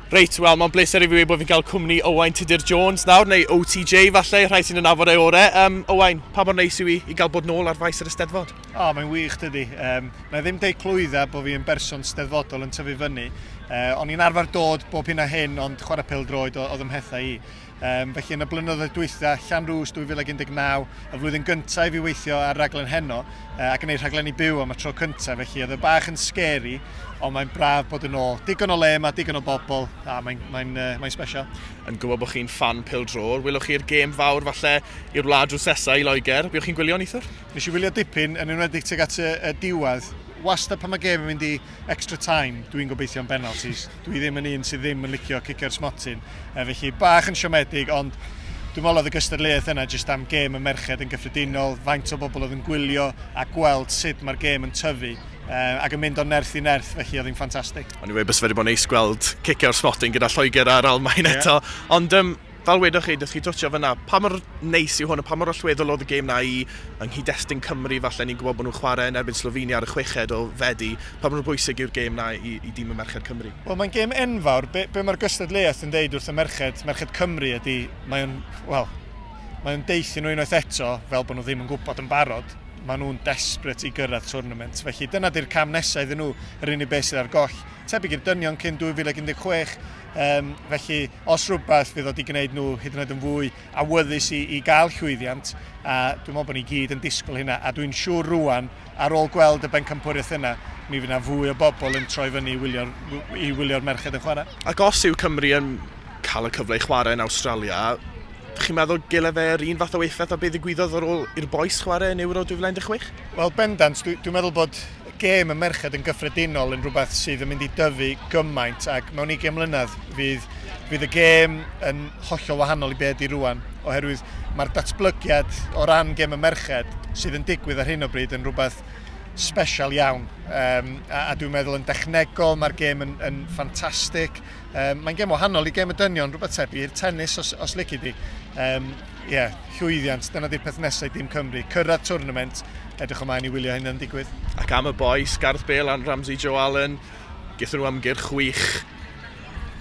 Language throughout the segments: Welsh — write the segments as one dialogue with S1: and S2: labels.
S1: Reit, wel, mae'n bleser i fi wedi bod fi'n cael cwmni Owain Tudur Jones nawr, neu OTJ falle, rhai sy'n ynafod ei orau. Um, Owain, pa mor neis yw i, i gael bod nôl ar faes yr ysteddfod? O, oh, mae'n wych dydy.
S2: Um, na ddim deu clwydda bod fi yn berson steddfodol yn tyfu fyny. Uh, o'n i'n arfer dod bob hyn a hyn, ond chwarae pel droed oedd ymhethau i. Um, felly yn y blynyddoedd dwytha, Llanrwst 2019, y flwyddyn gyntaf i fi weithio ar raglen heno uh, ac yn ei rhaglenni byw am y tro cyntaf, felly oedd y bach yn scary, ond mae'n braf bod yn ôl. Digon o le yma, digon o bobl, a mae'n mae uh, mae special. Yn gwybod bod chi'n
S1: fan pil drôr, wylwch chi'r gêm fawr falle i'r wlad drwy sesa i Loegr. Byddwch chi'n gwylio, Nithwr? Nes i wylio dipyn,
S2: yn enwedig tuag at y, y diwedd. Wasta pan mae gêm yn mynd i extra time, dwi'n gobeithio yn penalties. Dwi ddim yn un sydd ddim yn licio cicer smotyn. E, felly, bach yn siomedig, ond dwi'n meddwl oedd y gystadleuaeth yna jyst am gêm y merched yn gyffredinol, faint o bobl oedd yn gwylio a gweld sut mae'r gêm yn tyfu. E, ac yn mynd o nerth i nerth, felly oedd hi'n ffantastig. Ond i wedi bod yn neis
S1: gweld cicer smotyn gyda Lloegr ar Almain yeah. eto. Ond um, Fel wedoch chi, dych chi twtsio fyna, pa mor neis yw hwn a pa mor allweddol oedd y gêm na i yng nghyd-destun Cymru, falle ni'n gwybod bod nhw'n chwarae yn erbyn Slovenia ar y chweched o Fedi, pa mor bwysig yw'r gêm na i i dîm y merched Cymru? Wel mae'n gêm enfawr,
S2: be, be mae'r gystadleuaeth yn deud wrth y merched, merched Cymru ydy, mae o'n, wel, mae o'n deuthio nhw unwaith eto, fel bod nhw ddim yn gwybod yn barod, mae nhw'n desperate i gyrraedd twrnament, felly dyna di'r cam nesaf iddyn nhw, yr unig beth sydd ar goll, tebyg i'r dynion cyn 2016, Um, felly, os rhywbeth, bydd o wedi gwneud nhw hyd yn oed yn fwy awyddus i, i gael llwyddiant, a dwi'n meddwl bod ni gyd yn disgwyl hynna, a dwi'n siŵr rwan, ar ôl gweld y bencampwriaeth yna, mi fydd yna fwy o bobl yn troi fyny i wylio'r, i wylio'r merched yn chwarae. Ac os yw Cymru yn
S1: cael y cyfle i chwarae yn Australia, chi'n meddwl gyle fe yr un fath o effaith a beth ddigwyddodd ar ôl i'r boes chwarae yn Euro 2016? Wel, bendant,
S2: dwi'n dwi meddwl bod gêm y merched yn gyffredinol yn rhywbeth sydd yn mynd i dyfu gymaint ac mewn 20 mlynedd fydd, fydd y gêm yn hollol wahanol i be ydy rwan oherwydd mae'r datblygiad o ran gêm y merched sydd yn digwydd ar hyn o bryd yn rhywbeth special iawn um, a, a dwi'n meddwl yn dechnegol mae'r gêm yn, yn ffantastig um, mae'n gêm wahanol i gêm y dynion rhywbeth tebyg i'r tennis os, os lici di um, Ie, llwyddiant, dyna di'r peth nesau dim Cymru, cyrraedd twrnament, edrych ymlaen i wylio hyn yn digwydd. Ac am y bois,
S1: Gareth Bale a'n Ramsey Joe Allen, gyda nhw ymgyrch chwych.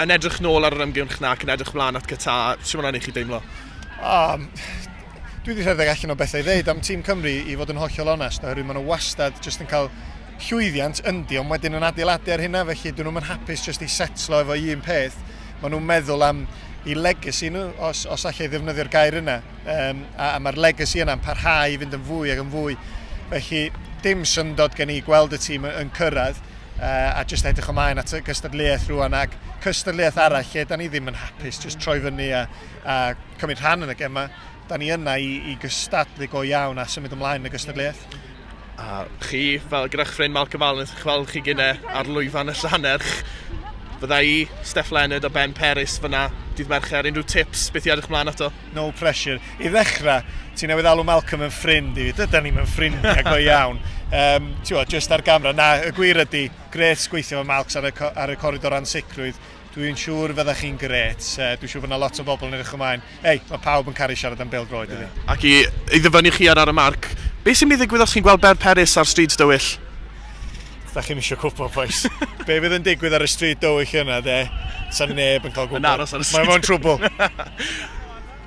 S1: Yn edrych nôl ar yr ymgyrch na ac yn edrych mlaen at Qatar, sy'n mynd i chi deimlo? Um,
S2: dwi wedi rhedeg allan o bethau i ddeud am tîm Cymru i fod yn hollol onest, oherwydd maen nhw wastad jyst yn cael llwyddiant yndi, ond wedyn yn adeiladu ar hynna, felly dyn nhw'n hapus jyst i setlo efo un peth. Maen nhw'n meddwl am i legacy nhw, os, os allai ddefnyddio'r gair yna. Um, a, a mae'r legacy yna'n parhau i fynd yn fwy ac yn fwy. Felly, dim syndod gen i gweld y tîm yn cyrraedd uh, a jyst edrych ymlaen at y gystadleuaeth rwan ac cystadleuaeth arall lle da ni ddim yn hapus, jyst troi fyny a, a cymryd rhan yn y gemau. Da ni yna i, i gystadlu go iawn a symud ymlaen yn y gystadleuaeth. A
S1: chi, fel gyda'ch ffrind Malcolm Allen, chi'n gweld chi gynne ar lwyfan y Llanerch. Fydda i, Steph Leonard a Ben Peris fyna dydd Mercher. Unrhyw tips, beth i edrych mlaen ato? No pressure.
S2: I ddechrau, ti newydd alw Malcolm yn ffrind i fi. Dyda ni'n ffrind ni, a go iawn. Um, Ti'n just ar gamra. Na, y gwir ydy, gret gweithio fo Malcs ar y, ar y coridor ansicrwydd. Dwi'n siŵr y fyddech chi'n gret. Uh, dwi'n siŵr bod yna lot o bobl yn edrych ymlaen. Ei, mae pawb yn caru siarad am Bêl Droed, yeah. ydy. Ac i, i ddyfynnu
S1: chi ar ar y marc, beth sy'n mynd i ddigwydd os chi'n gweld Ber Peris ar stryd dywyll? da
S2: chi'n eisiau cwpl, boys. Be fydd yn digwydd ar y stryd dywyll yna, de? Sa neb yn cael gwybod. Yn aros ar y stryd.
S1: Mae'n trwbl.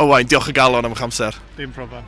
S2: Owain,
S1: diolch y galon am eich
S2: amser.
S1: Dim problem.